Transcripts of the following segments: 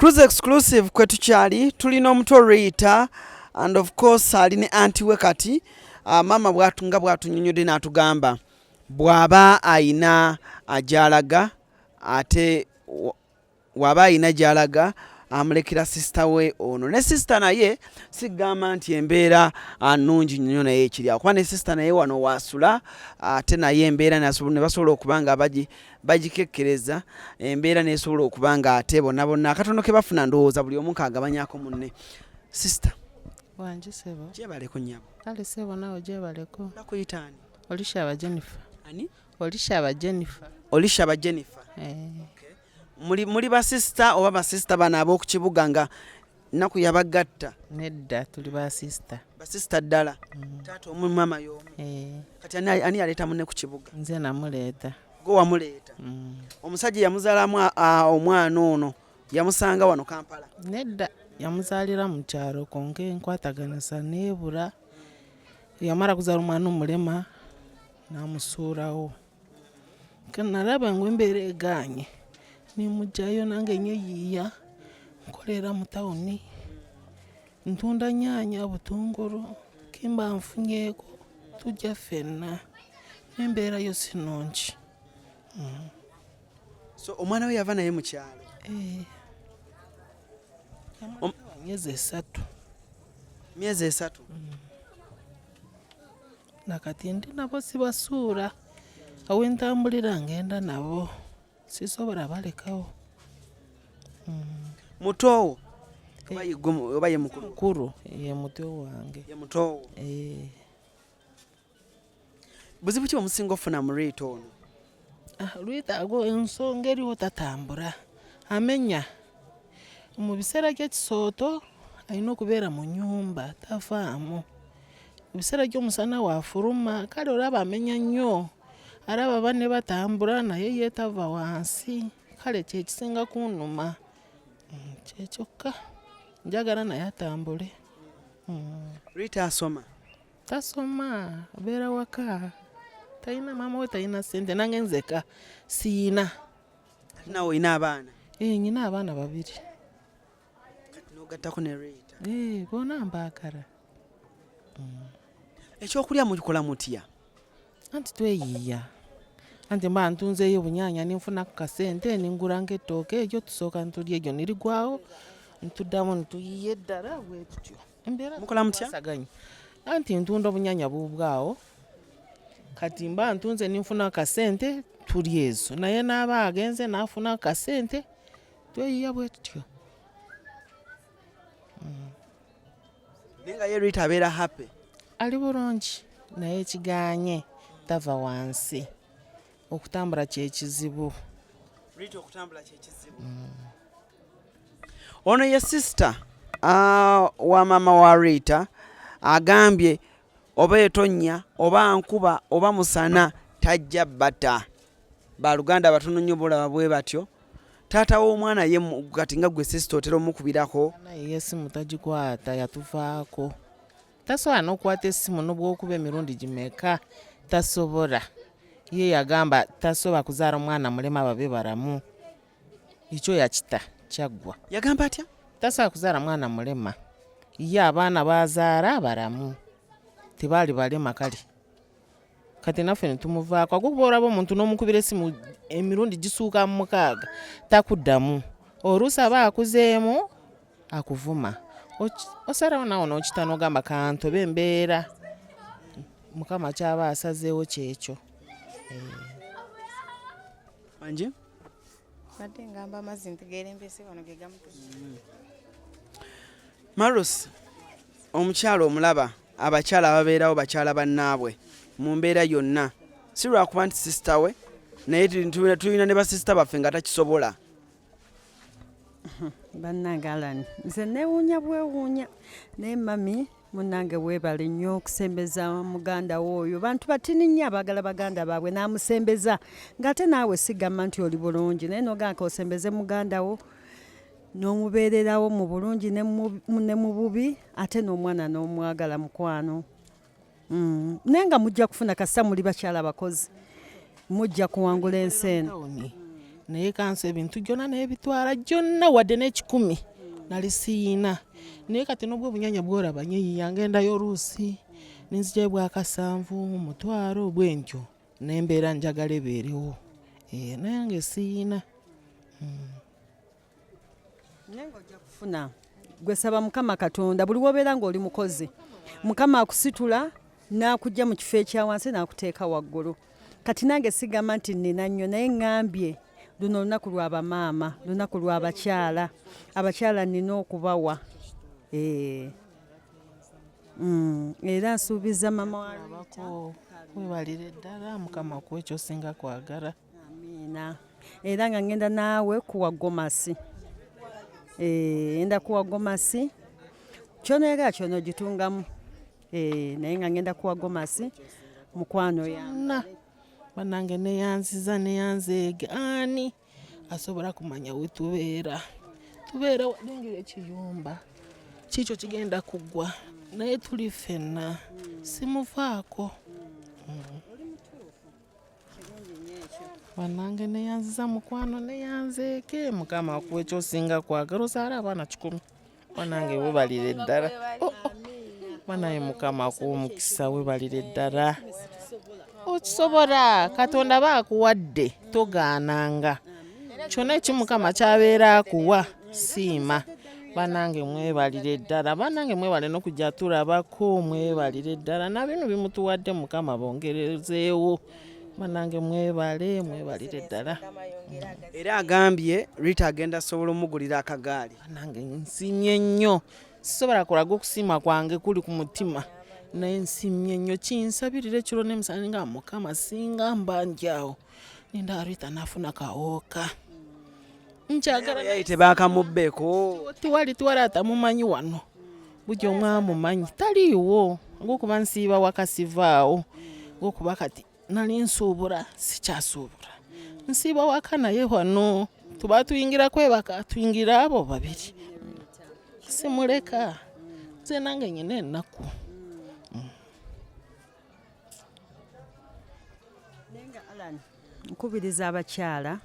Cruise exclusive kwe tukyali tulina omuto Rita and of course ali ne anti we kati uh, maama bwatu nga bwatunyonyodde n'atugamba bw'aba ayina ajalaga ate waba ayina gyalaga amulekera sisita we ono ne sisita naye sigamba nti embeera ah, nungi nnyo naye ekirya kuba ne sisita naye wano waasula ate naye embeera ne basobola okuba nga bagikekkereza embeera nesobola okuba nga ate bonabona akatono ke bafuna ndowooza buli omu kaagabanyako munne sisita wangi sebo gyebaleko nyabo kale sebo nawe gyebaleko nakuyitaani olishaba jennifer ani olishaba jennifer olishaba jennifer eh. muli basisita oba basisita bano ab'oku kibuga nga nnaku yabagatta nedda tuli basista basista ddala mm. taata omu maama y'omu eh. kati ani yaleeta mune ku kibuga nze namuleeta gwe wamuleeta mm. omusajja yamuzaalamu omwana ono yamusanga wano kampala nedda yamuzaalira mu kyalo konka enkwataganisa neebula yamala kuzaala omwana omulema namusuulawo kanalaba ngu embeera egaanye nemugyayo nange enyo yiiya nkolera mu tawuni ntunda nyaanya butungulu kemba nfunyeeko tujja ffenna nembeera yo sinungi mm. so omwana we yava naye mukyalo eh. myezi esatu myezi esatu mm. nakati ndi nabo sibasuula awentambulira ngenda nabo sisobola balekawo mm. mutoowo oba ye mukulu ye muto wange eh. buzibu ki omusinga ofuna mu reeta ono Ah, lwetaago ensonga eriwo tatambula amenya mu biseera by'ekisooto alina okubeera mu nyumba tavaamu ebiseera by'omusana waafuluma kale olaba amenya nnyo alaba banne batambula naye yeetava wansi kale kyekisinga kunuma mm, kyekyokka njagala naye atambule mm. rita asoma tasoma abeera waka talina maama we talina sente nange nzeka siina nawe olina abaana eh, nyina abaana babiri nogattako ne reta eh, bona mbaagala mm. ekyokulya mukikola mutya anti tweyiiya anti mba ntunzeeyo obunyanya ninfuna ku kasente ninguranga ettooke egyo tusooka ntulya egyo nirigwawo ntuddamu ntuyiye eddala bwetutyo mukola mutya anti ntunda obunyanya bubwawo kati mba ntunze ninfuna akasente tuli ezo naye naaba agenze nafuna akasente tweyiya bwe tutyo mm. naye nga ye rita abeera happy ali bulungi naye kiganye tava wansi okutambula kyekizibu rita okutambula kyekizibu mm. Ono ye sister uh, wa mama wa Rita agambye oba etonya oba nkuba oba musana tajja bata baluganda abatono nnyo bulaba bwe batyo taata w'omwana ye kati nga gwe sisita otera omukubirako naye esimu tagikwata yatuvaako tasobola n'okukwata esimu n'obwokuba emirundi gimeka tasobola ye yagamba tasobola kuzaala omwana mulema babe baramu ekyo yakita kyaggwa yagamba atya tasobola kuzaala mwana mulema ye abaana bazaala abalamu tebaali balema kale kati naffe netumuvaako agokuba olaba omuntu n'omukubira esimu emirundi gisuuka mu mukaaga takuddamu oluusi aba akuzeemu akuvuma osalawo nawo nokita nogamba kantoba embeera mukama kyaba asazeewo kyekyo eh. Mbadde ngamba amazzi ntigeerembese wano ge gamutusa. Mm. Marus, omukyala omulaba abakyala ababeerawo bakyala bannaabwe mu mbeera yonna si lwakuba nti sisita we naye tulina ne basisita baffe nga takisobola bannange alani nze newuunya bwewuunya naye mami munange webale nnyo okusembeza muganda wo oyo bantu batini nnyo abagala baganda baabwe n'amusembeza ng'ate naawe sigamba nti oli bulungi naye noganka osembeze muganda wo n'omubeererawo mu bulungi ne mu bubi ate n'omwana n'omwagala mukwano mm. naye nga mujja kufuna kasita muli bakyala bakozi mujja kuwangula ensi eno naye kansi ebintu gyona naye bitwala gyonna wadde n'ekikumi nali siyina naye kati nobwo obunyanya bworaba nyeyiya ngendayo oluusi nenzija bwakasanvu mumutwalo bwentyo nembeera njagala ebeerewo eh, naye nga esiyina hmm. naye ng'ojja kufuna gwe saba mukama katonda buli wobeera ng'oli mukozi mukama akusitula n'akujja mu kifo ekya wansi n'akuteeka waggulu kati nange sigamba nti nnina nnyo naye ŋŋambye luno olunaku lwa bamaama lunaku lwa bakyala abakyala nnina okubawa eh. mm, era nsuubiza mama wabako webalire ddala mukama kuwa ekyosinga kwagala amiina era nga ngenda naawe kuwa gomasi eh, enda kuwa gomasi kyonoyagala kyona ogitungamu eh, naye nga ngenda kuwa gomasi mukwano yana banange neyanziza neyanzeege ani asobola kumanya wetubeera tubeera walengera ekiyumba kiikyo kigenda kuggwa naye tuli ffenna simuvaako mm. banange neyanziza mukwano neyanzeeke mukama akuwa ekyosinga kwagala ozaala abaana kikumi banange webalire ddala oh, oh. banaye mukama akuwa omukisa webalire ddala okisobola katonda aba akuwadde togaananga kyona ekimukama kyabeera akuwa siima banange mwebalire ddala banange mwebale nokujja tulabako mwebalire ddala nabino bimutuwadde mukama bongerezeewo banange mwebale mwebalire ddala era agambye rita agenda sobola omugulira akagaali banange nsimye nnyo sisobola kulaga okusiima kwange kuli ku mutima naye nsimye nnyo kinsabirira ekiro nemusana nga mukama singa mbanjawo ninda arita nafuna kawoka nkyagala tebakamubbeeko tiwali tiwali atamumanyi wano buli omu amumanyi taliiwo ngokuba nsiiba wakasivaawo ngokuba kati nali nsuubula sikyasuubula nsiiba waka naye wano tuba tuyingira kwebaka tuyingira abo babiri simuleka nze nange nyina ennaku naye nga alan nkubiriza abakyala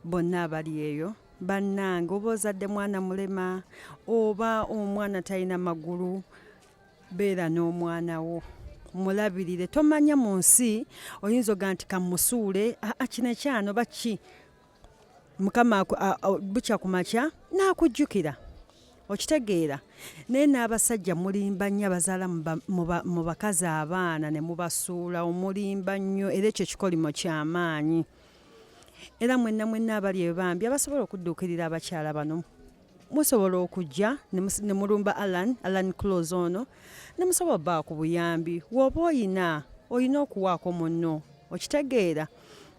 bonna abali eyo bannange oba ozadde mwana mulema oba omwana talina magulu beera n'omwana wo mulabirire tomanya mu nsi oyinza oga nti kamusuule akino ekyano baki mukama bukya ku makya n'akujjukira okitegeera naye n'abasajja mulimba nnyo abazaala mu bakazi abaana ne mubasuula omulimba nnyo era ekyo kikolimo kyamaanyi era mwenna mwenna abali ebambi abasobola okudduukirira abakyala bano musobola okujja ne mulumba alan alan clos ono ne musobola baa ku buyambi woba oyina olina okuwaako munno okitegeera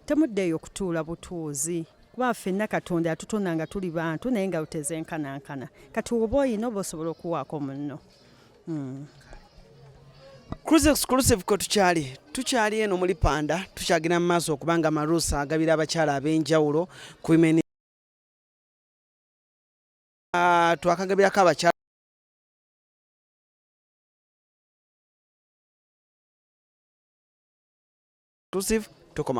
temuddeeyo okutuula butuuzi kuba fenna katonda yatutona nga tuli bantu naye nga lutezenkanankana kati woba oyina oba osobola okuwaako munno hmm. cruise exclusive kwe tukyali tukyali eno muli panda tukyagenda mu maaso okubanga amaruusa agabira abakyala ab'enjawulo ku Ah, twakagabirako abakyala tusive tukoma